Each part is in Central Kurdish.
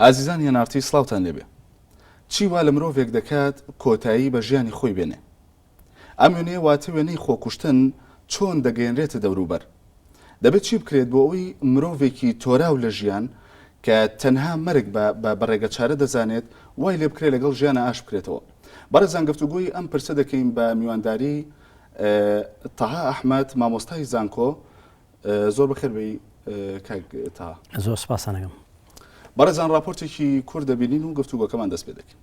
ئازیزانی ئەنارتی سڵاوتان لێبێ چی وا لە مرۆڤێک دەکات کۆتایی بە ژیانی خۆی بێنێ ئەم وێنەیە واتە وێنەی خۆکوشتن چۆن دەگەیەنرێتە دەوروبەر دەبێت چی بکرێت بۆ ئەوی مرۆڤێکی تۆراو لە ژیان کە تەنها مەرگ بە بە بەڕێگە چارە دەزانێت وای لێ بکرێ لەگەڵ ژیانە ئاش بکرێتەوە بەڕێزان گفتوگۆی ئەم پرسە دەکەین بە میوانداری تەها ئەحمەد مامۆستای زانکۆ زۆر بەخێر بی کاک تا زۆر سپاسانەکەم بەڕێزان راپۆرتێکی کور دەبینین و گفتوگۆکەمان دەست پێ دەکەین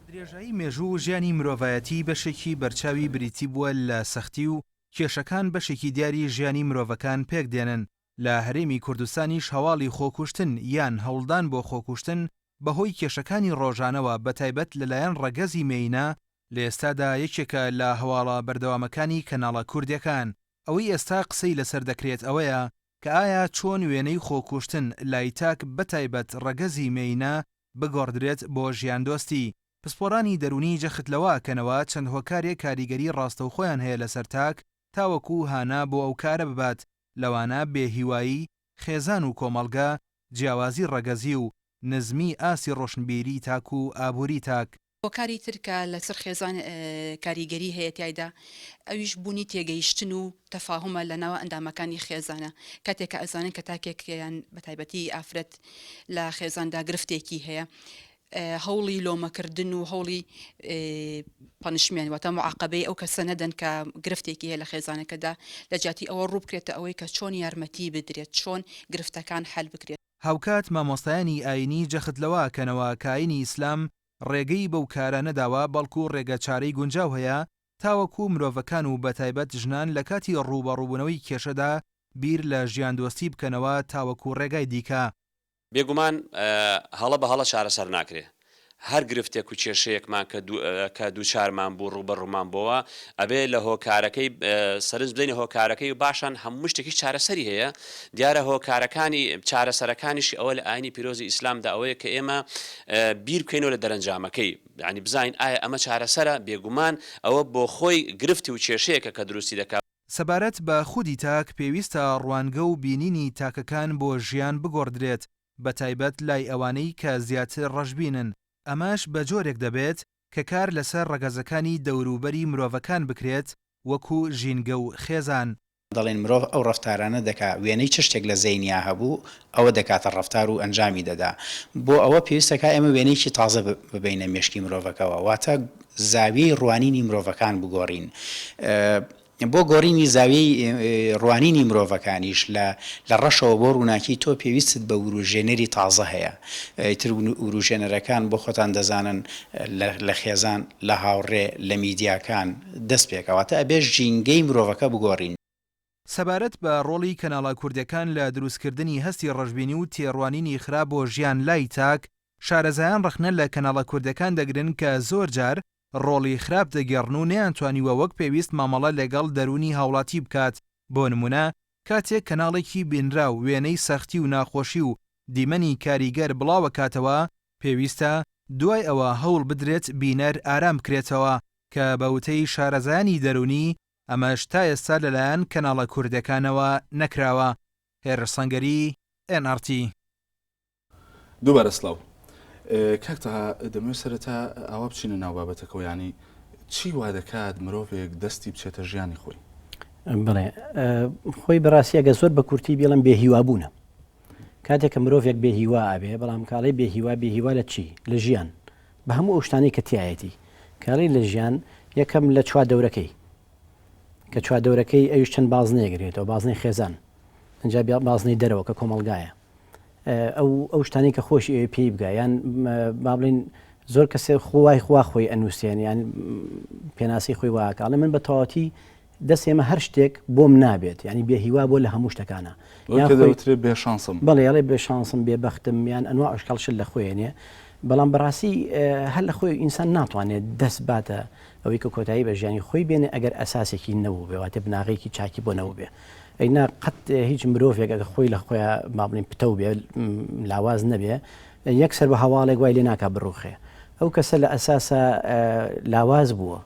درێژایی مێژوو و ژیانی مرۆڤایەتی بەشێکی بەرچاوی بریتی بووە لە سەختی و کێشەکان بەشێکی دیاری ژیانی مرۆڤەکان پێک دێنن لە هەرێمی کوردستانیش هەواڵی خۆکوشتن یان هەوڵدان بۆ خۆکوشتن بەهۆی کێشەکانی ڕۆژانەوە بەتایبەت لەلایەن ڕەگەزی مێینە، لە ئێستادا یەکێکە لە هەواڵە بەردەوامەکانی کەناڵە کوردیەکان، ئەوەی ئێستا قسەی لەسەر دەکرێت ئەوەیە کە ئایا چۆن وێنەی خۆکوشتن لای تاک بەتایبەت ڕەگەزی مێینە بگۆڕدرێت بۆ ژیاندۆستی؟ پسپۆڕانی دەروونی جەخت لەوە ئەکەنەوە چەند هۆکارێک کاریگەری ڕاستەوخۆیان هەیە لەسەر تاک تاوەکو هانا بۆ ئەو کارە ببات، لەوانە بێهیوایی خێزان و کۆمەڵگە، جیاوازی ڕەگەزی و نزمی ئاستی ڕۆشنبیری تاک و ئابووری تاک. هۆکاری تر کە لەسەر خێزان کاریگەری هەیە تیایدا ئەویش بوونی تێگەیشتن و تەفاهومە لە ناو ئەندامەکانی خێزانە کاتێک کە ئەزانن کە تاکێکیان بەتایبەتی ئافرەت لە خێزاندا گرفتێکی هەیە هەوڵی لۆمەکردن و هەوڵی پەنشمێنت واتە معاقبەی ئەو کەسە نەدەن کە گرفتێکی هەیە لە خێزانەکەدا لە جیاتی ئەوە ڕووبکرێتە ئەوەی کە چۆن یارمەتی بدرێت چۆن گرفتەکان حەل بکرێت. هاوکات مامۆستایانی ئایینی جەخت لەوە ئەکەنەوە کە ئایینی ئیسلام ڕێگەی بەو کارە نەداوە بەڵکو ڕێگە چارەی گونجاو هەیە تاوەکو مرۆڤەکان و بەتایبەت ژنان لە کاتی ڕووبەڕووبوونەوەی کێشەدا بیر لە ژیاندۆستی بکەنەوە تاوەکو ڕێگای دیکە بێگومان هەڵە بە هەڵە چارەسەر ناکرێ. هەر گرفتێک و کێشەیەکمان کە دووچارمان بوو، ڕووبەڕوومان بۆوە، ئەبێ لە هۆکارەکەی سەرنج بدەینە هۆکارەکەی و باشان هەموو شتێکیش چارەسەری هەیە. دیارە هۆکارەکانی، چارەسەرەکانیشی ئەوە لە ئایینی پیرۆزی ئیسلامدا ئەوەیە کە ئێمە بیر بکەینەوە لە دەرەنجامەکەی، یانی بزانین ئایا ئەمە چارەسەرە؟ بێگومان ئەوە بۆخۆی گرفت و کێشەیەکە کە دروستی دەکا. سەبارەت بە خودی تاک، پێویستە ڕوانگە و بینینی تاکەکان بۆ ژیان بگۆڕدرێت، بەتایبەت لای ئەوانەی کە زیاتر ڕەشبینن، ئەمەش بە جۆرێک دەبێت کە کار لەسەر ڕەگەزەکانی دەوروبەری مرۆڤەکان بکرێت وەکو ژینگە و خێزان. دەڵێن مرۆڤ ئەو ڕەفتارانە دەکا وێنەی چ شتێک لە زەینیا هەبوو ئەوە دەکاتە ڕەفتار و ئەنجامی دەدا، بۆ ئەوە پێویستە کە ئێمە وێنەیەکی تازە ببەینە مێشکی مرۆڤەکەوە، واتە زاویەی ڕوانینی مرۆڤەکان بگۆڕین. بۆ گۆڕینی زاویەی ڕوانینی مرۆڤەکانیش لە لە ڕەشەوە بۆ ڕووناکی تۆ پێویستت بە وروژێنەری تازە هەیە. ئیتر وروژێنەرەکان بۆ خۆتان دەزانن لە لە خێزان، لە هاوڕێ، لە میدیاکان دەست پێکا. واتە ئەبێ ژینگەی مرۆڤەکە بگۆڕین. سەبارەت بە ڕۆڵی کەناڵە کوردەکان لە دروستکردنی هەستی ڕەشبینی و تێڕوانینی خراپ بۆ ژیان لای تاک، شارەزایان ڕەخنە لە کەناڵە کوردەکان دەگرن کە زۆر جار ڕۆڵی خراپ دەگێڕن و نەیانتوانیوە وەک پێویست مامەڵە لەگەڵ دەروونی هاوڵاتی بکات، بۆ نموونە کاتێک کەناڵێکی بینراو وێنەی سەختی و ناخۆشی و دیمەنی کاریگەر بڵاوەکاتەوە، پێویستە دوای ئەوە هەوڵ بدرێت بینەر ئارام بکرێتەوە، کە بە وتەی شارەزایانی دەروونی ئەمەش تا ئێستا لەلایەن کەناڵە کوردەکانەوە نەکراوە. هێرش سەنگەری، ئێن ئاڕ تی. دووبارە سڵاو. کاک تەها دەمەوێت سەرەتا ئاوا بچینە ناو بابەتەکەوە یانی چی وادەکات مرۆڤێک دەستی بچێتە ژیانی خۆی؟ بەڵێ خۆی بەڕاستی ئەگەر زۆر بە کورتی بیڵێم بێ هیوابوونە کاتێک کە مرۆڤێک بێ هیوا ئەبێ، بەڵام کە ئەڵێی بێ هیوا، بێ هیوا لە چی؟ لە ژیان، بە هەموو ئەو شتانەی کە تیایەتی. کە ئەڵێی لە ژیان، یەکەم لە چواردەورەکەی. کە چواردەورەکەی ئەویش چەند بازنەیەک گرێتەوە، بازنەی خێزان، ئینجا بیا بازنەی دەرەوە کە کۆمەڵگایە. ئەو ئەو شتانەی کە خۆشی ئەوێ پێی بگا، یان با بڵێین زۆر کەسێ خۆ وای خوا خۆی ئەنووسێن، یان پێناسەی خۆی وا ئەکا. ئەڵێ من بە تەواوەتی دەست ئێمە هەر شتێک بۆم نابێت یانی بێ هیوا بۆ لە هەموو شتەکانە یان دەوترێ بێ شانسم بەڵێ ئەڵێ بێ شانسم بێ بەختم یان ئەنوا ئەشکەڵ شت لە خۆێنێ بەڵام بەڕاستی هەر لە خۆی ئینسان ناتوانێت دەست باتە ئەوەی کە کۆتایی بە ژیانی خۆی بێنێ ئەگەر ئەساسێکی نەبوو بێواتە بناغێکی چاکی بۆ نەبوو بێ ئەینا قەت هیچ مرۆڤێک ئەگە خۆی لە خۆیان مابلین پتە و بێ لاواز نەبێ یەکسەر بە هەواڵێک وای لێ ناکە بڕوخێ ئەو کەسە لە ئەساسە لاواز بووە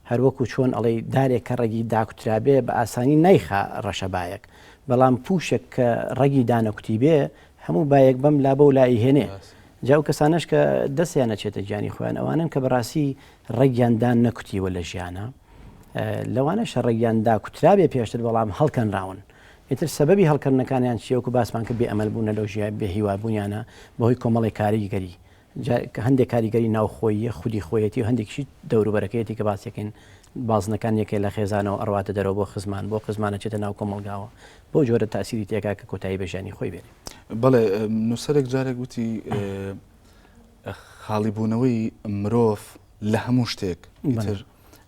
هەر وەکو چۆن ئەڵێی دارێک کە ڕەگی داکوترابێ بە ئاسانی نایخا ڕەشە بایەک، بەڵام پووشێک کە ڕەگی دانەکوتیبێ هەموو بایەک بەم لا بەو لا ئەیهێنێ. جا ئەو کەسانەش کە دەستیان ئەچێتە گیانی خۆیان ئەوانەن کە بەڕاستی ڕەگیان دانەکوتیوە لە ژیانا، لەوانەشە ڕەگیان داکوترابێ پێشتر بەڵام هەڵکەنراون. ئیتر سەبەبی هەڵکەننەکانیان چییە؟ وەکو باسمان کرد بێ ئەمەل بوونە لەو ژیای بێ هیوا بوونیانە بەهۆی کۆمەڵێک کاریگەری جا هەندێک کاریگەری ناوخۆییە خودی خۆیەتی و هەندێکیشی دەوروبەرەکەیەتی کە باسی دەکەین بازنەکان یەکێ لە خێزانەوە ئەڕواتە دەرەوە بۆ خزمان بۆ خزمان ئەچێتە ناو کۆمەڵگاوە بەو جۆرە تاسیری تێکا کە کۆتایی بە ژیانی خۆی بێنێ بەڵێ نووسەرێک جارێک وتی خاڵیبوونەوەی مرۆڤ لە هەموو شتێک ئیتر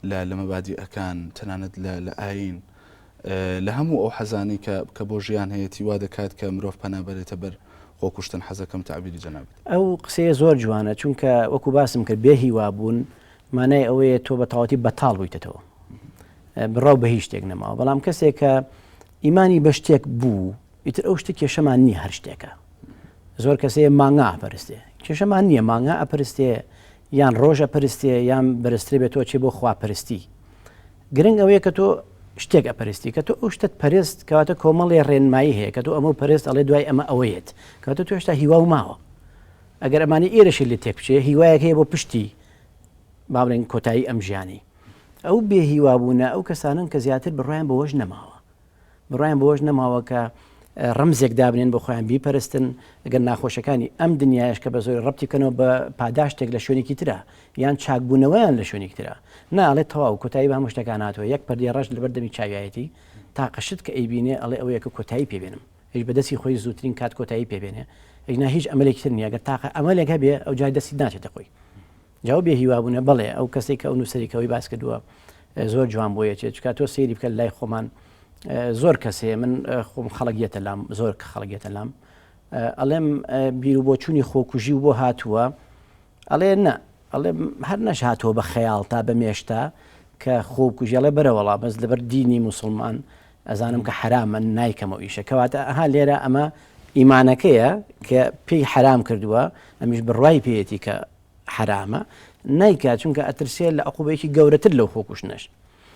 لە لە مەبادیئەکان، تەنانەت لە لە ئایین، لە هەموو ئەو حەزانەی کە کە بۆ ژیان هەیەتی وا دەکات کە مرۆڤ پەنا بەرێتە بەر خۆکوشتن، حەزەکەم تەعبیری جەنابت. ئەو قسەیە زۆر جوانە چونکە وەکو باسم کرد بێ هیوا بوون مانای ئەوەیە تۆ بەتەواوەتی بەتاڵ بوویتەتەوە بڕاو بە هیچ شتێک نەماوە بەڵام کەسێک کە ئیمانی بە شتێک بوو ئیتر ئەو شتە کێشەمان نییە هەر شتێکە زۆر کەسەیە مانگا ئەپەرستێ کێشەمان نییە مانگا ئەپەرستێ یان ڕۆژە پرستێ یان بەرزترێ بێ تۆ چێ بۆ خوا پرستی گرنگ ئەوەیە کە تۆ شتێک ئەپەرستی کە تۆ ئەو شتت پەرست کەواتە کۆمەڵێ ڕێنمایی هەیە کە تۆ ئەمە پەرست ئەڵێ دوای ئەمە ئەوەیەت کەواتە تۆ هێشتا هیوا و ماوە ئەگەر ئەمانی ئێرەشی لێ تێک بچێ هیوایەک هەیە بۆ پشتی با بڵێن کۆتایی ئەم ژیانی ئەو بێهیوابوونە ئەو کەسانن کە زیاتر بڕوایان بەوەش نەماوە بڕوایان بەوەش نەماوە کە ڕەمزێک دابنێن بۆ خۆیان بیپەرستن، گەر ناخۆشەکانی ئەم دنیایەش کە بەزۆری ڕەپتی بکەنەوە بە پاداشتێک لە شوێنێکی ترا، یان چاکبوونەوەیان لە شوێنێکی ترا. نا، ئەڵێ تەواو، کۆتایی بە هەموو شتەکان هاتووە، یەک پەردەی ڕەش لەبەر دەمی چاویایەتی، تاقە شت کە ئەیبینێ ئەڵێ ئەوەیە کە کۆتایی پێ بێنم، ئەویش بە دەستی خۆی زووترین کات کۆتایی پێ بێنێ، ئینا هیچ ئەمەلێکی تر نییە، گەر تاقە ئەمەلێک هەبێ ئەوجا دەستی ناچێتە خۆی. جاو بێ هیوا بونە بەڵێ ئەو کەسەی کە ئەو نوسەری کەوەی باس کردووە زۆر جوان بۆ یەچێت چکات تۆ سەیری بکە لای خۆمان زۆر کەسێ من خۆم خەڵگیێتە لام زۆر کە خەڵگێتە لام ئەڵێم بیر و بۆچوونی خۆکوژی و بۆ هاتووە ئەڵێ نە ئەڵێ هەر نەش هاتووە بە خەیاڵ تا بە مێشتا کە خۆکوژیڵێ بەرەوەڵا بەس لەبەر دینی مسلمان ئەزانم کە حرامە نایکەمەوە ئیشە کەواتە ئەها لێرە ئەمە ئیمانەکەیە کە پێی حرام کردووە ئەمیش بڕای پێیەتی کە حەرامە نایکات چونکە ئەترسێ لە عقوبەیەکی گەورەتر لەو خۆکوشتنەش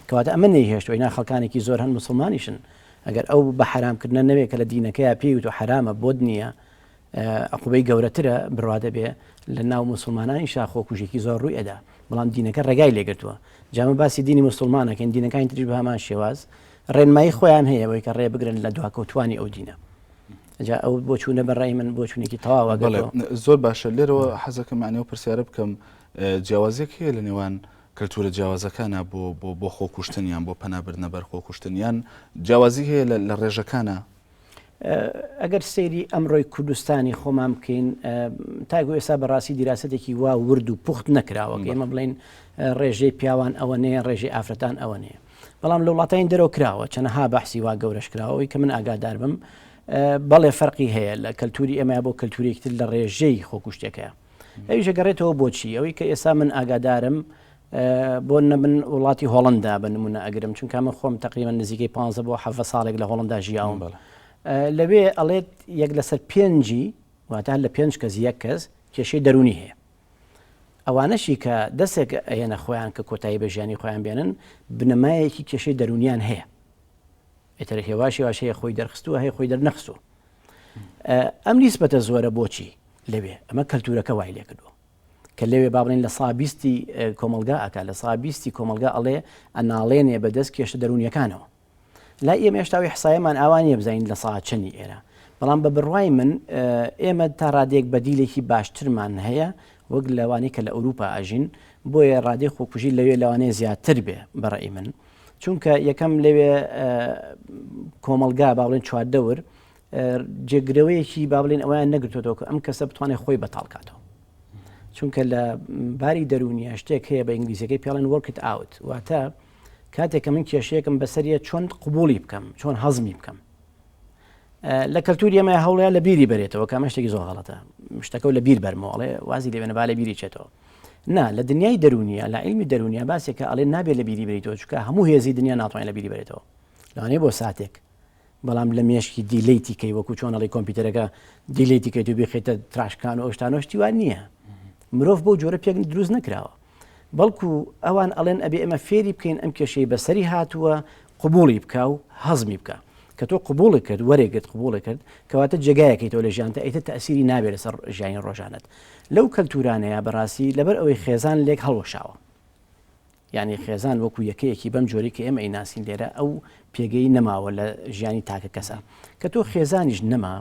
کەواتە ئەمە نەیهێشت ئەوینا خەڵکانێکی زۆر هەن مسلمانیشن ئەگەر ئەو بە حرامکردە نەوێت کە لە دینەکەی پێی و حرامە بۆت نییە عقوبەی گەورەترە بڕوا دەبێ لە ناو مسلمانانی شاخۆ کوژێکی زۆر ڕووی ئەدا بەڵام دینەکە ڕێگای لێگرتووە جامە باسی دینی مسلمانەکەن دینەکانی تریش بە هەمان شێواز ڕێنمایی خۆیان هەیە ئەوەی کە ڕێبگرن لە دواکەوتوانی ئەو دینە جا ئەو بۆچوونە بەڕای من بۆچوونێکی تەواوە بڵێ زۆر باشە لێرەوە حەزەکەمانەوە پرسیارە بکەم جیاوازێک هەیە لە نێوان کەلتورە جیاوازەکانە بۆ بۆ بۆ خۆکوشتنیان بۆ پەنابردنە بەر خۆکوشتنیان جیاوازی هەیە لە ڕێژەکانە ئەگەر سەیری ئەمڕۆی کوردستانی خۆمان بکەین تاگو ئێستا بەڕاستی دیراسەتێکی وا ورد و پوخت نەکراوە ئێمە بڵین ڕێژەی پیاوان ئەوە نەیە ڕێژی ئافرەتان ئەوە نەیە بەڵام لە وڵاتانی دەرەوە کراوە چەنەها بەحسی وا گەورەش کراوەی کە من ئاگادار بم بەڵێ فەرقی هەیە لە کەلتوری ئێمە بۆ کەلتورێکتر لە ڕێژەی خۆکوشتەکە ئەویش گەڕێتەوە بۆچی ئەوەی کە ئێستا من ئاگادارم بۆ نەبن وڵاتی هۆڵەندا بە نمونە ئەگرم چونکە من خۆم تقریبا نزیکەی پ بۆ ح ساڵێک لە هۆڵندا ژیاوم لەوێ ئەڵێت یەک لەسەر پێنجی واتە لە پێنج کەس یەک کەس کێشەی دەرونی هەیە ئەوانەشی کە دەسێک ئەهێنە خۆیان کە کۆتایی بە ژیانی خۆیان بێنن بنەمایەکی کێشەی دەرونیان هەیە ئێتر هێواشی واشەیە خۆی دەرخستووە هەیە خۆی دەرنەخستوو ئەم نیسبەتە زۆرە بۆچی لەوێ ئەمە کەلتورەکە وای لێکردووە کە لەوێ با بڵێین لە سا بیستی کۆمەڵگا ئەکا لە سا بیستی کۆمەڵگا ئەڵێ ئەناڵێنێ بە دەست کێشە دەروونیەکانەوە لای ئێمە هێشتا وی حسایەمان ئاوا نیە بزانین لە سا چەنی ئێرە بەڵام بە بڕوای من ئێمە تا ڕادێک بەدیلێکی باشترمان هەیە وەک لەوانی کە لە ئەوروپا ئەژین بۆیە ڕادێ خۆکوژی لەوێ لەوانەیە زیاتر بێ بەڕێی من چونکە یەکەم لەوێ کۆمەلگا باڵێن چواردەور جێگرەوەیەکی با بڵێن ئەویان نەگرتوەوە کە ئەم کەسە بتوانێت خۆی بەتاڵ کاتەوە چونکە لە باری دەرونیە شتێک هەیە بە ئینگلیزیەکەی پێڵێن وەرکت ئاوت واتە کاتێککە من کێشەیەکم بەسەریە چۆن قوبولی بکەم چۆن هەزمی بکەم لە کەلتوری ئەمە هەوڵەیە لە بیری بەرێتەوە کامە شتێکی زۆر غڵەتە شتەکە لە بیر بەرمەوەڵێ وازی لێبێنە با لە بیری چێتەوە نا لە دنیای دەرونیە لە علمی دەرونیە باسێکە ئەڵێ نابێت لە بیری بریتەوە چکە هەموو هێزی دنیا ناتوانین لە بیری بێتەوە لەوانەیە بۆ ساتێک بەڵام لە مێشکی دیلیتی کەی وەکو چۆنەڵی کۆمپیوتەرەکە دیلیتی کەیت و بخێتە تراشکان و ئەوشتانۆشتی وان نییە مرۆڤ بۆ جۆرە پێک دروست نەکراوە بەڵکو ئەوان ئەڵێن ئەبێ ئێمە فێری بکەین ئەم کێشەی بەسەری هاتووە قوبولی بکە و هەزمی بکە کە تۆ قوبوڵی کرد وەرێگرت قوبوڵی کرد کەواتە جێگایەکەی تۆ لە ژیانتە ئەیتە تەسیری نابێت لەسەر ژیانی ڕۆژانت لەو کەلتورانەیە بەڕاستی لەبەر ئەوەی خێزان لێک هەڵوەشاوە یانی خێزان وەکو یەکەیەکی بەم جۆرەی کە ئێمە ئەیناسین لێرە ئەو پێگەی نەماوە لە ژیانی تاکە کەسە کە تۆ خێزانیش نەما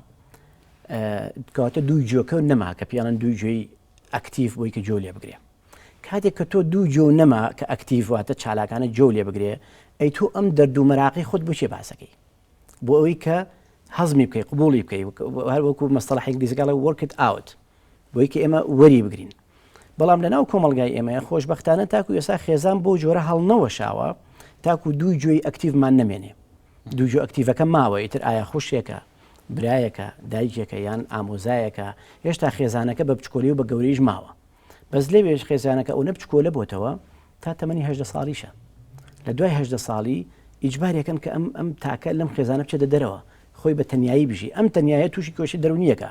کەواتە دوو جۆکە نەما کە پیانن دوو جۆی ئەکتیف بۆی کە جۆ لێ بگرێ کاتێک کە تۆ دوو جۆ نەما کە ئەکتیڤاتە چالاکانە جۆ لێ بگرێ ئەی تۆ ئەم دەردوو مەراقی خۆت بچێ باسەکەی بۆ ئەوەی کە هەزمی بکەی قبولی بکەی هەر وەکو مەستەڵ حنگلیزگەڵە وەرکت ئاوت بۆی کە ئێمە وەری بگرین بەڵام لە ناو کۆمەلگای ئێمەیە خۆشببختانە تاکو ئێسا خێزان بۆ جۆرە هەڵنەوەشاوە تاکو دوو جۆی ئەکتیڤمان نمێنێ دوو جۆ ئەکتیڤەکە ماوە ئیتر ئایا خوشێکە برایەکە دایکێکە یان ئامۆزایەکە هێشتا خێزانەکە بە بچکۆلی و بە گەوریش ماوە بەس لەوێش خێزانەکە ئەو نە بچکۆلە بۆتەوە تا تەمەنی هەژدە ساڵیشە لە دوای هەژدە ساڵی ئیجباری ئەکەن کە ئەم ئەم تاکە لەم خێزانە بچێتە دەرەوە خۆی بە تەنیایی بژی ئەم تەنیایە تووشی کۆشی دەرونیەکە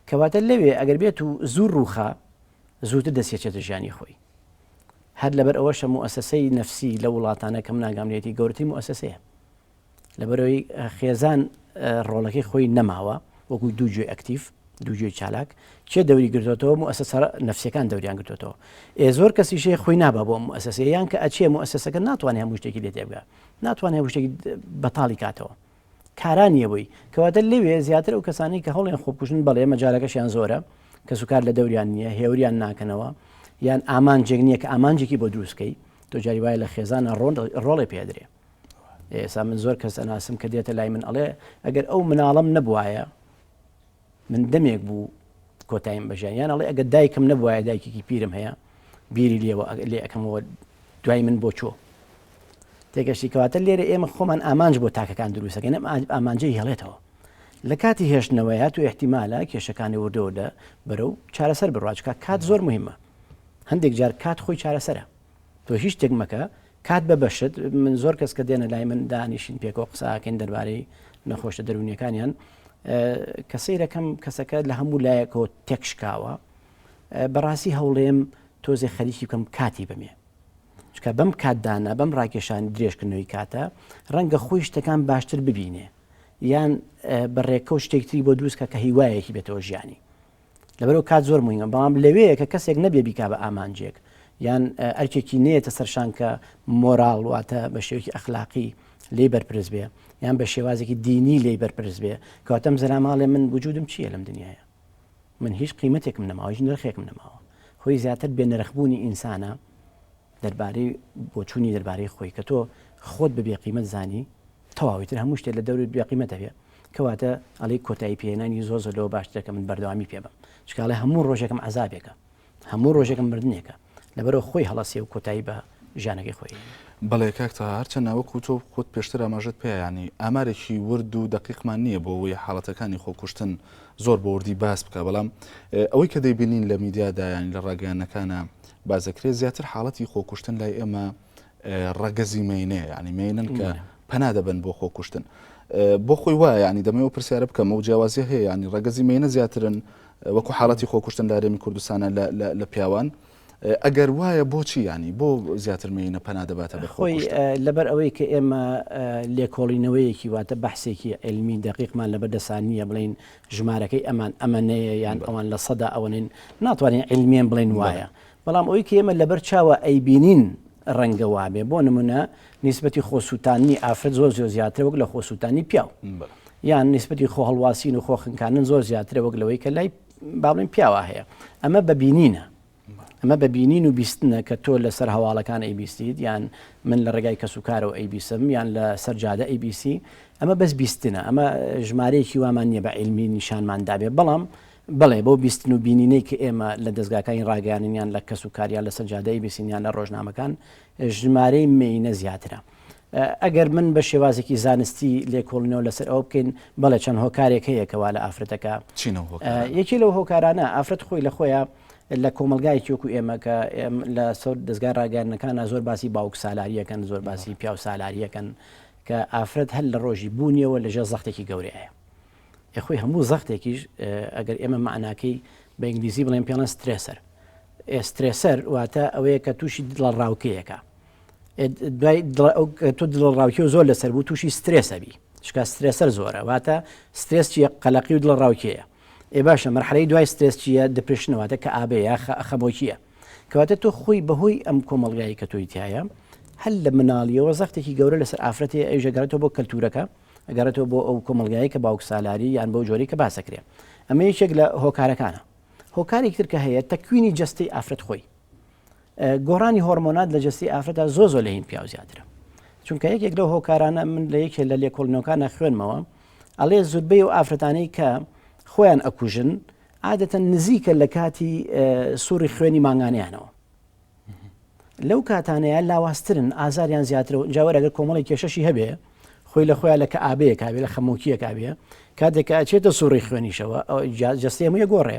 کەواتە لەوێ ئەگەر بێت و زوو ڕووخا زووتر دەسێچێتە ژیانی خۆی هەر لەبەر ئەوەشە موئەسەسەی نەفسی لە وڵاتانە کەم ناگامنێتی گەورەتری موئەسەسەیە لەبەرئەوەی خێزان ڕۆڵەکەی خۆی نەماوە وەکو دوو جوێ ئەکتیف دوو جوێ چالاک کێ دەوری گرتوتەوە و ئەسە سەر نفسەکان دەوریان گرتوتەوە ئێ زۆر کەسیشێ خۆی نابا بۆ ئەسەسە یان کە ئەچێ و ئەسەسەکە ناتوانێت هەموو شتێکی لێ دەبگا ناتوانێت شتێکی بەتاڵی کاتەوە کارانیەوەی کەواتە لەوێ زیاتر و کەسانی کە هەڵێن خۆبکوژن بەڵێ مەجارەکەشیان زۆرە کە سوکار لە دەوریان نییە هێوریان ناکەنەوە یان ئامانجێک نییە کە ئامانجێکی بۆ دروستکەی تۆجاری وایە لە خێزانە ڕۆن ڕۆڵێ پێدرێ ئێسا من زۆر کەس ئەناسم کە دێتە لای من ئەڵێ ئەگەر ئەو مناڵم نەبوایە من دەمێک بوو کۆتایم بەژیان یان ئەڵێ ئەگە دایکم نەبوایە دایکێکی پیرم هەیە بیری لێەوە لێ ئەەکەمەوە دوای من بۆ چۆ تێگەشتی کەواتە لێرە ئێمە خۆمان ئامانج بۆ تاکەکان دروستەکەن ئەم ئامانجەی هێڵێتەوە لە کاتی هێشتنەوەیە تو احتیمالە کێشەکانی وردەوردە بەرەو چارەسەر بڕواچکە کات زۆر مهمە هەندێک جار کات خۆی چارەسەرە تۆ هیچ شتێک مەکە کات بە بەشت من زۆر کەس کە دێنە لای من دانیشین پێکەوە قساکەین دەربارەی نەخۆشە دەرونیەکانیان کە سیرەکەم کەسەکە لە هەموو لایەکەوە تێکشکاوە بەڕاستی هەوڵێم تۆزێ خەریکی بکەم کاتی بمێ چکە بەم کاتدانە بەم ڕاکێشان درێژکردنەوەی کاتە ڕەنگە خۆی شتەکان باشتر ببینێ یان بەڕێکە و شتێکتری بۆ دروستکە کە هیوایەکی بێتەوە ژیانی لەبەرو کات زۆر مویمە بەڵام لەوەیە کە کەسێک نەبێ بیکا بە ئامانجێک یان ئەرکێکی نێتە سەرشان کە مۆراڵ واتە بە شێوکی ئەخلاقی لی بەرپرس بێ یان بە شێوازێکی دینی لی بەرپرس بێ کەواتەم زەراماڵێ من وجودم چییە لەم دنیاە من هیچ قیمەتێکم نەماوە هیچ نرخێکم نەماوە خۆی زیاتر بێ نرخبوونی ئینسانە دەربارەی بۆچوونی دەربارەی خۆی کە تۆ خۆت بە بێ قیمەت زانی تەواو ئیتر هەموو شتێ لە دەورت بێ قیمەت دەبێ کەواتە ئەڵێی کۆتایی پێهێنانی زۆر زۆر لەوە باشترە کە من بەردەوامی پێ بەم چونکە ئەڵێ هەموو ڕۆژێکم عەزابێکە هەموو ڕۆژێکم مردنێکە لەبەرەوە خۆی هەڵەسێ و کۆتایی بە ژیانەکەی خۆی بەڵێ کاک تەها هەرچەند ناوەک و تۆ خۆت پێشتر ئاماژەت پێ یانی ئامارێکی ورد و دەقیقمان نییە بۆ ئەوەی حاڵەتەکانی خۆکوشتن زۆر بە وردی باس بکە بەڵام ئەوەی کە دەیبینین لە میدیادا یانی لە ڕاگەیانەکانە باسدەکرێت زیاتر حاڵەتی خۆکوشتن لای ئێمە ڕەگەزی مێینەیە یعنی مێینن کە پەنا دەبن بۆ خۆکوشتن بۆ خۆی وایە ینی دەمەوە ئەو پرسیارە بکەم و جیاوازی هەیە ینی ڕەگەزی مێینە زیاترن وەکو حاڵەتی خۆکوشتن لارێمی کوردستانە لە پیاوان ئەگەر وایە بۆچی ینی بۆ زیاتر مێینە پەنا دەباتە بەخۆی لەبەر ئەوەی کە ئێمە لێکۆڵینەوەیەکی واتە بەحسێکی علمی دقیقمان لە بەردەسان نییە بڵین ژمارەکەی ئەمان ئەمەنەیە یان ئەوان لە سەدا ئەوەنەین ناتوانین عیلمیەن بڵێن وایە بەڵام ئەوی کە ئێمە لەبەر چاوە ئەیبینین ڕەنگە وابێ بۆ نمونە نیسبەتی خۆسووتانی ئافرەت زۆر زۆر زیاترە وەک لە خۆسووتانی پیاو یان نیسبەتی خۆ هەڵواسین و خۆخنکانن زۆر زیاترە وەک لەوەی کە لای بابلین پیاوە هەیە ئەمە بەبینینە ئەمە بە بینین و بیستنە کە تۆ لە سەر هەواڵەکان ئەیبیستیت یان من لە ڕێگای کەس و کارەوە ئەیبیسم یان لە سەر جادە ئەیبیسی ئەمە بەس بیستنە ئەمە ژمارەیەکی وامان نییە بە عیلمی نیشانمان دابێ بەڵام بڵێ بۆ بیستن و بینینەی کە ئێمە لە دەستگاکانی ڕاگەیانیان لە کەس و کاریان لە سەجادەی بیسینیان لە ڕۆژنامەکان ژمارەی مینە زیاترە ئەگەر من بە شێوازێکی زانستی لێکۆڵینەوە لەسەر ئەوە بکەین، بەڵێ چەند هۆکارێک هەیە کە وا لە ئافرەتەکە. چین ئەو هۆکارانە؟ یەکێ لەو هۆکارانە ئافرەت خۆی لە خۆیە لە کۆمەڵگایەکی وەکو ئێمە کە لە سەر دەزگای ڕاگەیاندنەکانا زۆر باسی باوک سالاری ئەکەن، زۆر باسی پیاو سالاری ئەکەن کە ئافرەت هەر لە ڕۆژی بوونیەوە لە ژێر زەختێکی گەورەیە. ئێ خۆی هەموو زەختێکیش ئەگەر ئێمە مەعناکەی بە ئینگلیزی بڵێین پێڵێن سترێسەر. ئێ سترێسەر واتە ئەوەیە کە تووشی دڵەڕاوکێیەکە. دوای تۆ دڵ ڕاوکیەوە زۆر لەسەر بوو تووشی سترێسەبی شکا سترێسەر زۆرە واتە سترێس چیە قەلەقی و دڵ ڕاوکەیە ئێ باشە مەرحەی دوای سترێس چیە دپرشنەوەتە کە ئابەیە خەمۆکیە کەواتە تۆ خۆی بەهۆی ئەم کۆمەلگایی کە تۆی تایە هەل لە مناڵیەوە زەختێکی گەورە لەسەر ئافرەتی ئەیژەگەرێتەوە بۆ کەلتورەکە ئەگەرێتەوە بۆ ئەو کۆمەلگایی کە باوک سالاری یان بەو جۆری کە باسەکرێ ئەمە یەکێک لە هۆکارەکانە هۆکارێکتر کە هەیە تەکوینی جستەی ئافرەت خۆی گۆڕانی هۆرمۆنات لە جەستەی ئافرەتدا زۆ زۆ لە هین پیاو زیاترە چونکە یەکێک لەو هۆکارانە من لە یەکێ لە لێکۆڵنەوەکانە خوێنمەوە ئەڵێ زوربەی و ئافرەتانەی کە خۆیان ئەکوژن عادەتەن نزیکە لە کاتی سوڕی خوێنی مانگانیانەوە لەو کاتانەیە لاواسترن ئازاریان زیاتر و جاوەرەگەر کۆمەڵی کێشەشی هەبێ خۆی لە خۆیان لە کە ئابەیە کاوێ لە خەمۆکیە کاوێ کاتێکە ئەچێتە سوڕی خوێنیشەوە جستێ موە گۆڕێ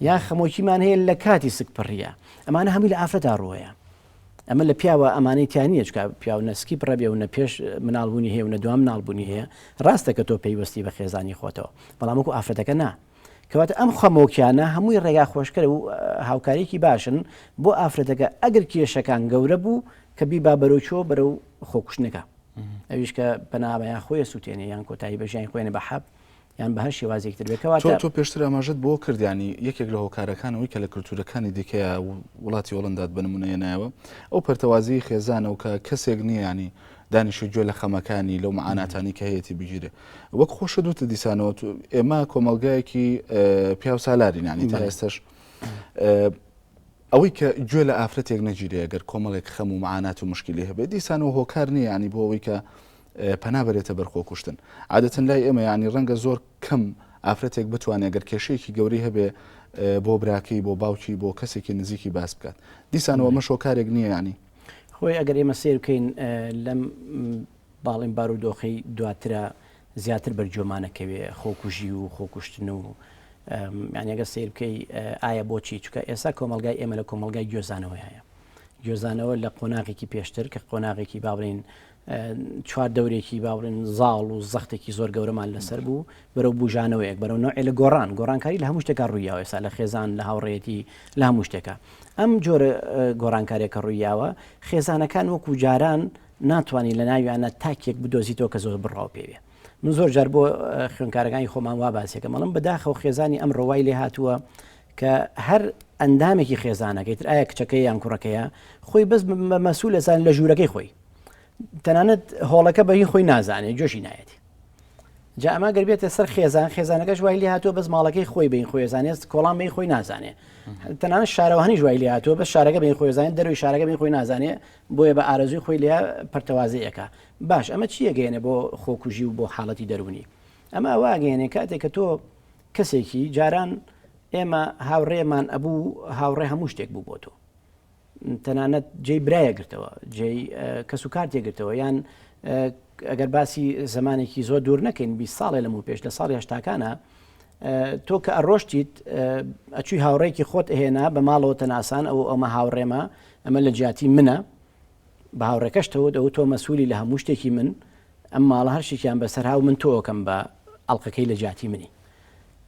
یا خەمۆکیمان هەیە لە کاتی سک پڕیە ئەمانە هەمووی لە ئافرەتا ڕوەیە ئەمە لە پیاوە ئەمانەی تیانە چکە پیاو نسکی بڕەبێ و نە پێش مناڵبوونی هەیە و نە دوام ناڵبوونی هەیە ڕاستە کە تۆ پێیوەستی بە خێزانی خۆتەوە بەڵامکو ئافرەتەکە نا کەواتە ئەم خەمۆکیانە هەمووی ڕێگا خۆشکەر و هاوکارێکی باشن بۆ ئافرەتەکە ئەگەر کێشەکان گەورە بوو کە بی با بەرەوچۆ بەرە و خۆکوشتنەکە ئەویش کە بەناوەیان خۆی سووتێنێ یان کۆتایی بەژیان خۆێنە بە حەب یان بە هەر شێوازێکی تر بێت، کەواتە. تۆ پێشتر ئاماژەت بەوە کرد، یانی یەکێک لە هۆکارەکان ئەوەی کە لە کلتوورەکانی دیکەیە و وڵاتی هۆڵەندات بە نموونە هێنایەوە، ئەو پەرتەوازەیی خێزانە و کە کەسێک نییە یانی دانیشێ گوێ لە خەمەکانی، لەو مەعاناتانەی کە هەیەتی بگیرێ. وەک خۆشت وتت دیسانەوە تو ئێمە کۆمەڵگایەکی پیاوسالارین یانی تا ئێستەش ئەوەی کە گوێ لە ئافرەتێک نەگیرێ گەر کۆمەڵێک خەم و مەعانات و مشکلی هەبێ دیسانەوە هۆکار نییە یانی بۆ ئەوەی کە پەنا بەرێتە بەر خۆکوشتن. عادەتەن لای ئێمە یانی ڕەنگە زۆر کەم ئافرەتێک بتوانێ گەر کێشەیەکی گەورەی هەبێ بۆ براکەی، بۆ باوکی، بۆ کەسێکی نزیکی باس بکات. دیسان و ئەمەش هۆکارێک نییە یانی. خۆی ئەگەر ئێمە سەیر بکەین لەم باڵین بارودۆخەی دواترا زیاتر بەرجۆمانە کەوێ خۆکوژی و خۆکوشتن و یانی ئەگەر سەیر بکەی ئایا بۆچی چکە ئێستا کۆمەلگای ئێمە لە کۆمەلگای گوێزانەوەیە گوێزانەوە لە قۆناغێکی پێشتر کە قۆناغێکی باڵین چوار دەورێکی با بڵێن زاڵ و زەختێکی زۆر گەورەمان لەسەر بوو بەرەو بوژانەوەیەک بەرەو نەوەێ لە گۆڕان گۆڕانکاری لە هەموو شتێکا ڕوویاوە ئێستا لە خێزان لە هاوڕێتی لە هەموو شتێکە ئەم جۆرە گۆڕانکارێکە ڕوویاوە خێزانەکان وەکو جاران ناتوانانی لە ناویانە تاکێک بدۆزیتەوە کە زۆر بڕاو پێوێ من زۆر جار بۆ خوێنکارەکانی خۆمان وا باسێکە مەڵم بەداخە و خێزانی ئەم ڕەوای لێ هاتووە کە هەر ئەندامێکی خێزانەکەیتر ئایا کچەکەی یان کوڕەکەیە خۆی بەس بە مەسوولەسان لە ژوورەکەی خۆی تەنانەت هۆڵەکە بەهی خۆی نازانێت جۆشی نایەتی جا ئەما گەربێتە سەر خێزان خێزانەکەش وای لێ هاتووە بەس ماڵەکەی خۆی بین خۆێزانێت کۆڵان بین خۆی نازانێ تەنانە شارەوانی ژوای لێ هاتووە بە شارەکە بین خۆێزانین دەروی شارەکە بین خۆی نازانێ بۆیە بە ئارەزوی خۆی لە پرتەوازەیەەکە باش ئەمە چیەگەێنە بۆ خۆکوژی و بۆ حاڵەتی دەرونی ئەمە ئەوواگەێنێ کاتێک کە تۆ کەسێکی جاران ئێمە هاوڕێمان ئەبوو هاوڕێ هەموو شتێک بوو بۆ تۆ تەنانەت جێی برایە گرتەوە جێی کەس و کارتێ گرتەوە یان ئەگەر باسی زمانێکی زۆر دوور نەکەین بی ساڵێ لەم و پێش لە ساڵی هشتاکانە تۆ کە ئەڕۆشتیت ئەچووی هاوڕێکی خۆت ئەهێنا بە ماڵەوە تەناسان ئەو ئەمە هاوڕێمە ئەمە لە جیاتی منە بە هاوڕێکەشتەوت ئەو تۆ مەسوولی لە هەموو شتێکی من ئەم ماڵە هەر شتێکیان بەسەرا و من تۆکەم بە ئەڵقەکەی لە جیاتی منی.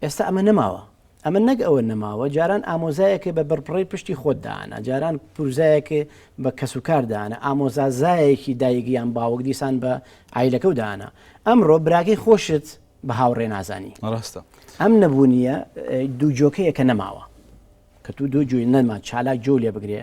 ئێستا ئەمە نەماوە. ئەمە نەک ئەوە نەماوە جاران ئامۆزایەکێ بە بڕبڕەی پشتی خۆت دائەنا، جاران پورزایەکێ بە کەس و کار دائەنا، ئامۆزازایەکی دایک یان باوک دیسان بە عایلەکەو دائەنا. ئەمڕۆ براکەی خۆشت بە هاوڕێ نازانی. ڕاستە. ئەم نەبوونیە دوو جۆکەیە کە نەماوە. کە تو دوو جۆی نەما چالاک جۆو لێ بگرێ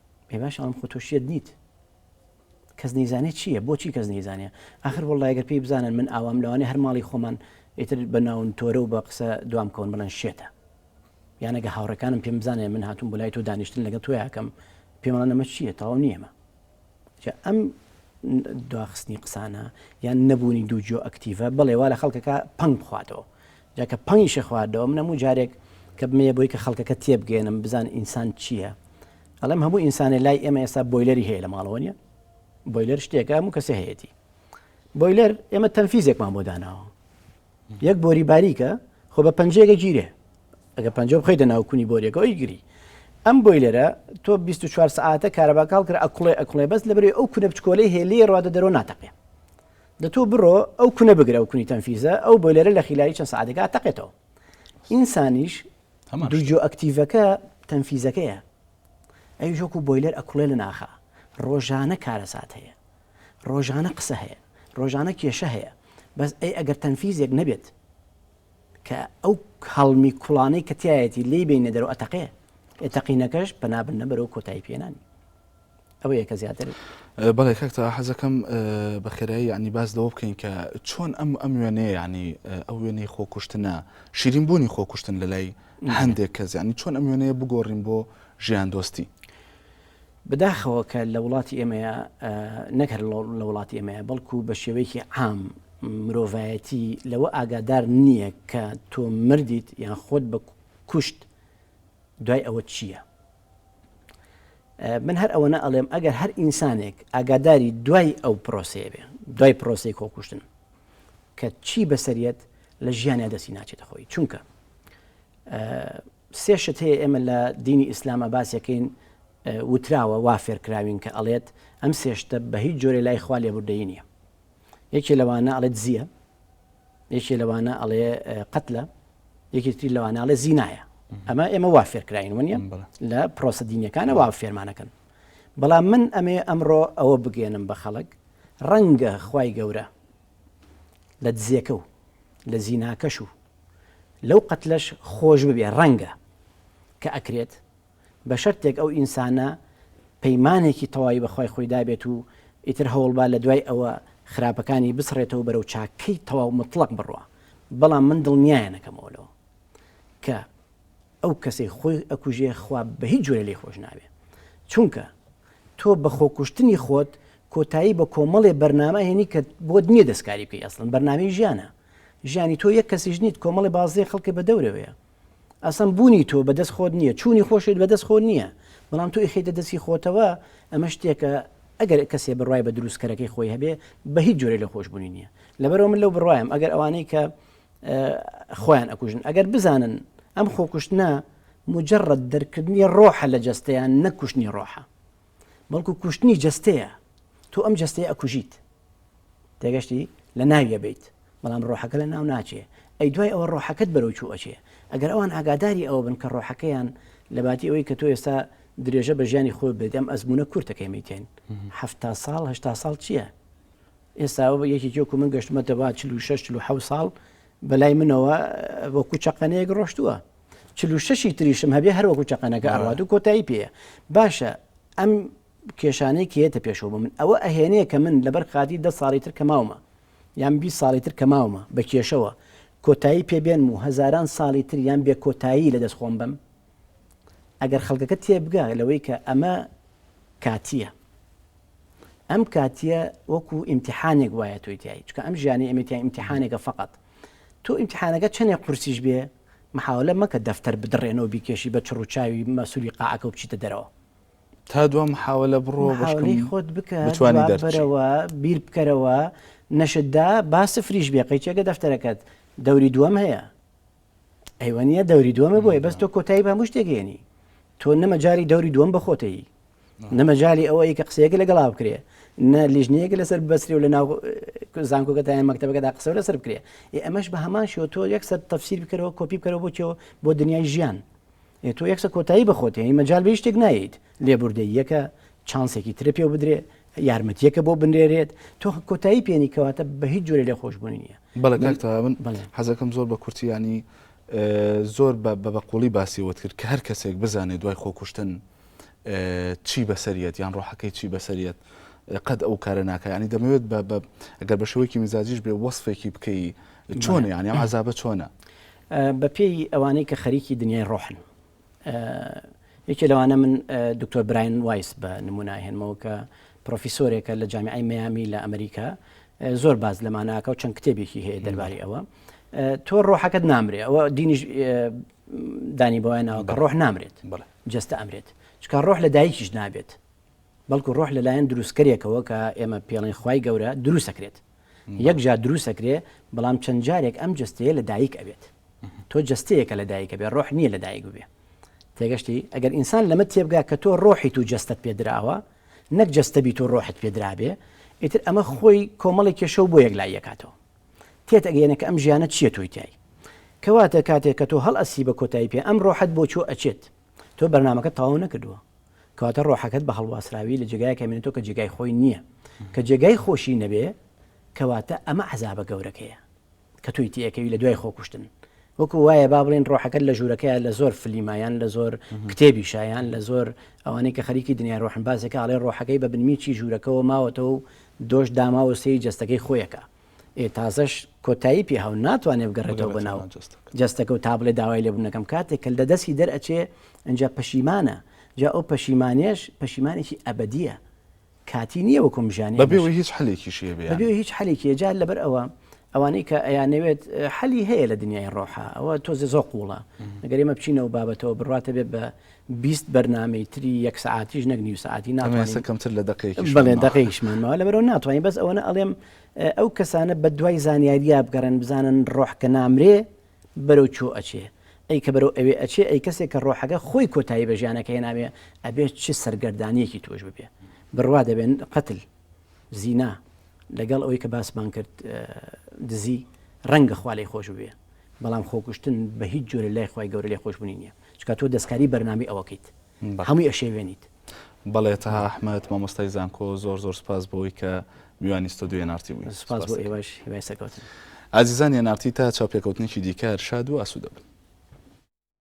ئێ باش ئەڵم خۆ تۆشیت نیت کەس نەیزانێت چییە بۆچی کەس نەیزانە ئاخر وڵایگەر پێی بزانن من ئاوام لەوانێ هەر ماڵی خۆمان ئیتر بە ناون تۆرە و بە قسە دوام کەون بڵێن شێتە یانەگە هاوڕەکانم پێم بزانێ من هاتوم بۆ لای تۆ دانیشتن لەگە تۆیاکەم پێمەڵە نەمە چییە تەواو نیەمە ئەم دواخستنی قسانە یان نەبوونی دوو جۆ ئەکتیڤە بڵێ وا لە خەڵکەکە پنگ بخواتەوە جا کە پەنگیشی خواردەوە، من هەموو جارێک کە بمەیە بۆی کە خەڵکەکە تێبگەیەنم بزان ئینسان چییە، ئەڵێم هەموو ئینسانێ لای ئێمە ئێستا بۆیلەری هەیە لە ماڵەوە نییە؟ بۆیلەر شتێکە هەموو کەسێ هەیەتی. بۆیلەر ئێمە تەنفیزێکمان بۆ داناوە. یەک بۆری باریکە خۆ بە پەنجەیەکە گیرێ. ئەگە پەنجە بخۆی دەناو کونی بۆریەکە ئەوی گری. ئەم بۆیلەرە تۆ 24 سەعاتە کارەباکاڵ کرا ئەکوڵێ ئەکوڵێ بەس لەبەرەی ئەو کونە بچکۆلەی هەیە لێ ڕوادە دەرۆ ناتەقێ. دە تۆ بڕۆ ئەو کونە بگرە ئەو کونی تەنفیزە ئەو بۆیلەرە لە خیلایی چەند سەعاتێکا تەقێتەوە ئینسانیش هەمان دوو شتە. جۆ ئەکتیڤەکە تەنفیزەکەیە ئەوی وەکو بۆیلەر ئەکوڵێ لە ناخا ڕۆژانە کارەسات هەیە ڕۆژانە قسە هەیە ڕۆژانە کێشە هەیە بەس ئەی ئەگەر تەنفیزێک نەبێت کە ئەو هەڵمی کوڵانەی کە تایەتی لێی بینە دەرەوە ئەتەقێ ئێ تەقینەکەش پەنابنە بەرەو کۆتایی پێنانی ئەوە یەکە زیاتر بەڵێ کاک تەها حەزەکەم بە خێرایی یعنی باس لەوە بکەین کە چۆن ئەم ئەم وێنەیە یعنی ئەو وێنەی خۆکوشتنە شیرین بوونی خۆکوشتن لە لای هەندێک کەس یعنی چۆن ئەم وێنەیە بگۆڕین بۆ ژیان دۆستی بداخەوە کە لە وڵاتی ئێمەیە نەکرد لە وڵاتی ئێمەیە بەڵکو بە شێوەیەکی عام مرۆڤایەتی لەوە ئاگادار نییە کە تۆ مردیت یان خۆت بە کوشت دوای ئەوە چییە من هەر ئەوەنە ئەڵێم ئەگەر هەر ئینسانێک ئاگاداری دوای ئەو پرۆسەیە بێ دوای پرۆسی کۆکوشتن کە چی بەسەریەت لە ژیانە دەستی ناچێتە خۆی چونکە سێ شت هەیە ئێمە لە دینی ئیسلامە باسەکەین وتراوە وافێرکراوین کە ئەڵێت ئەم سێشتە بە هیچ جۆرە لای خوا لێبوردەی نییە یەکێ لەوانە ئەڵێ دزیە یەکێ لەوانە ئەڵێ قەتلە یەکێتری لەوانە ئەڵێ زینایە ئەمە ئێمە وا فێرکراین ونیە لە پرۆسە دینیەکانە وا فێرمانەکەن بەڵام من ئەمێ ئەمڕۆ ئەوە بگەێنم بە خەڵک ڕەنگە خی گەورە لە دزیەکە و لە زیناکەش و لەو قەتلەش خۆش ببێ ڕەنگە کە ئەکرێت بە شەرتێک ئەو ئینسانە پەیمانێکی تەواوی بە خوای خۆی دابێت و ئیتر هەوڵبا لە دوای ئەوە خراپەکانی بسڕێتەوە و بەرەو چاکەی تەواو موتڵەق بڕوا بەڵام من دڵنیایان نەکەمەوە لەوە کە ئەو کەسەی خۆی ئەکوژێ خوا بە هیچ جۆرێ لێی خۆش نابێ چونکە تۆ بە خۆکوشتنی خۆت کۆتایی بە کۆمەڵێ بەرنامە هێنی کە بۆت نییە دەستکاری بکەی ئەسڵن بەرنامەی ژیانە ژیانی تۆ یەک کەسیش نیت کۆمەڵی بازێ خەڵکی بە دەورەوەیە ئەسڵەن بوونی تۆ بەدەست خۆت نییە چوونی خۆشت بەدەست خۆت نییە بەڵام تۆ ئیخیتە دەستی خۆتەوە ئەمە شتێکە ئەگەر کەسێ بڕای بە دروستکەرەکەی خۆی هەبێ بە هیچ جۆرە لە خۆشببوونی نییە لەبەرەوە من لەو بڕوایم ئەگەر ئەوانەی کە خۆیان ئەکوژن ئەگەر بزانن ئەم خۆکوشتنە مجرڕەت دەرکردنی ڕۆحە لە جەستەیان نەکوشتنی ڕۆحە بەڵکو کوشتنی جەستەیە تۆ ئەم جەستەیە ئەکوژیت تێگەشتی لە ناویە بیت بەڵام ڕۆحەکە لە ناو ناچێ ئەی دوای ئەوە ڕۆحەکەت بەرەو چوو ئەچێ ئەگەر ئەوان ئاگاداری ئەوە بن کە ڕۆحەکەیان لە باتی ئەوەی کە تۆ ئێستا درێژە بە ژیانی خۆ بێت ئەم ئەزمونە کورتەکەی میتێن هەفتا ساڵ هشتا ساڵ چییە؟ ئێستا یەکێکی وەکو من گەشتمەتە با چل و شەش چل و حەوت ساڵ بەلای منەوە وەکو چەقەنەیەک ڕۆشتووە چل و شەشی تریشم هەبێ هەر وەکو چەقەنەکە ئەڕات و کۆتایی پێەیە باشە ئەم کێشانەی کێتە پێشەوە بە من ئەوە ئەهێنەیە کە من لەبەر خاتی دە ساڵی تر کە ماومە یان بی ساڵی تر کە ماومە بە کێشەوە کۆتایی پێبێنم و هەزاران ساڵی تریان بێ کۆتایی لە دەست خۆم بم ئەگەر خەڵکەکە تێبگا لەوەی کە ئەمە کاتییە ئەم کاتیە وەکو ئیمتحانێک وایە تۆی تایی چکە ئەم ژیانی ئەمەتیان ئیمتحانێکە فقط تۆ ئیمتحانەکە چەندێ قورسیش بێ محاولە مەکە دەفتەر بدڕێنەوە بیکێشی بە چڕوچاوی مەسولی قاعەکە و بچیتە دەرەوە تا دو محاولە بڕۆ بەشکەی خۆت بکە بەرەوە بیر بکەرەوە نەشتدا با سفریش بێ قەیچەکە دەفتەرەکەت دەوری دووەم هەیە ئەیوەنیە دەوری دووەمە بۆیە بەس تۆ کۆتایی بە هەموو شتێک هێنی تۆ نەمەجای دەوری دووەم بەخۆتەی نەمەجای ئەوەی کە قسەیەکە لەگەڵا بکرێ نە لیژنەیەک لەسەر بەسری و لە ناو زانکۆگەتیان مەکتتەبەکەدا قسە لەسەر بکرێ ئەمەش بە هەمان شێوە تۆ یەکسەر تەفسیر بکەرەوە کۆپی بکەرەوە بۆ چێەوە بۆ دنیای ژیان ئێ تۆ یەکسە کۆتایی بە خۆت هێنی مەجال بە هیچ شتێک نایەیت لێبوردەی یەکە چانسێکی ترە پێ بدرێ یارمەتیەکە بۆ بنرێرێت تۆ کۆتایی پێێنی کەواتە بە هیچ جۆرە لێ خۆشببوونی نیە بەڵێ کاکتا من حەزەکەم زۆر بە کورتیانی زۆر بە بە بەقۆڵی باسی وت کرد کە هەر کەسێک بزانێت دوای خۆکوشتن چی بەسەریەت یان ڕۆحەکەی چی بەسەریەت قەت ئەو کارە ناکەیانی دەمەوێت بە ئەگەر بە شێوەیەکی مزاجیش بێ وەصفێکی بکەی چۆن یانی ئەم عذابە چۆنە بە پێی ئەوانەی کە خەریکی دنیای ڕۆحن یەکێ لەوانە من دکتۆر براین وایس بە نموناهێنمەوە کە پرۆفیسۆرێکە لە جامیعی میامی لە ئەمریکا زۆر باز لەمانناکە و چەند کتێبێکی هەیە دەرباری ئەوە تۆ ڕۆحەکەت نامرێ ئەوە دینیش دانی بۆیان ناوە کە ڕۆح نامرێت جستە ئەمرێت چکە ڕۆح لە دایکیش نابێت بەڵکو ڕۆح لەلایەن دروستکەرێکەوە کە ئێمە پێڵێن خی گەورە دروستەکرێت یەک جار دروست ئەکرێ بەڵام چەند جارێک ئەم جەستەیە لە دایک ئەبێت تۆ جەستەیەکە لە دایکە بێ ڕۆح نییە لە دایک ببێ تێگەشتی ئەگەر ئینسان لەمە تێبگا کە تۆ ڕۆحیت و جەستەت پێدراوە نەک جەستەبییت و ڕۆحت پێدرابێ ئیتر ئەمە خۆی کۆمەڵی کێشە و بۆ یەک لای یەکاتەوە تێت ئەگەێنە کە ئەم ژیانە چیە تۆی تای کەواتە کاتێک کە تۆ هەڵ ئەسی بە کۆتایی پێ ئەم ڕۆحت بۆ چۆ ئەچێت تۆ بەرنامەکەت تەواو نەکردووە کەواتە ڕۆحەکەت بە هەڵواسراوی لە جێگای کەمێنێتەوە کە جێگای خۆی نییە کە جێگای خۆشی نەبێ کەواتە ئەمە عذابە گەورەکەیە کە توی تێەکەوی لە دوای خۆکوشتن وەکو وایە با بڵێن ڕۆحەکەت لە ژوورەکەیان لە زۆر فلیمایان لە زۆر کتێبی شایان لە زۆر ئەوانەی کە خەریکی دنیا ڕۆحن باسێکە ئاڵێ ڕۆحەکەی بە بنمیچی ژوورەکەەوە ماوەتەوە و دۆش داماوە سێی جەستەکەی خۆیەکە ئێ تازەش کۆتایی پێهاو ناتوانێ بگەڕێتەوە بۆ ناو جەستەکە و تا بڵێ داوای لێبوون نەکەم کاتێک کە لە دەستی دەرئەچێ ئەجا پەشیمانە جا ئەو پەشیمانێش پەشیمانێکی ئەبەدیە کاتی نییە وەکم ژانی بەبێەوەی هیچ حلێکیشی بەبێ هیچ حلێکی جار لەبەر ئەوە ئەوانەی کە ئەیانەوێت حەلی هەیە لە دنیای ڕۆحە ئەوە تۆزێ زۆ قوڵە ئەگەر ئمە بچینەوە بابەتەوە بڕاتە بێت بە بیست بەرنامەی تری یەک سەعاتیش نەک نیو سەعاتی ناتوانین ئەمە ئێستا کەمتر لە دەقەیەکیش بەڵێ ماوە. دەقەیەکیشمان ماوە لەبەرئەوە ناتوانین بەس ئەوەنە ئەڵێم ئە، ئەو کەسانە بە دوای زانیاریا بگەڕێن بزانن ڕۆح کە نامرێ بەرەو کوێ ئەچێ ئەی کە بەرەو ئەوێ ئەچێ ئەی کەسێک کە ڕۆحەکە خۆی کۆتایی بە ژیانەکەی هێناوێ ئەبێ چ سەرگەردانییەکی تووش ببێ بڕوا دەبێن قەتل زینا لەگەڵ ئەوەی کە باسمان کرد ئە، دزی ڕەنگە خوا لێی خۆش ببێ بەڵام خۆکوشتن بە هیچ جۆرێ لای خوای گەورە لێخۆشبوونی نییە. چونکە تۆ دەستکاری بەرنامەی ئەوەکەیت هەمووی ئەشێوێنیت. بەڵێ تەها ئەحمەد مامۆستای زانکۆ زۆر زۆر سوپاس بۆوەی کە میوانی ستۆدیۆی NRT بووی. سوپاس بۆ ئێوەش هیوای سەرکەوتن. ئازیزانی NRT تا چاوپێکەوتنێکی دیکە هەر شاد و ئاسوودە بن.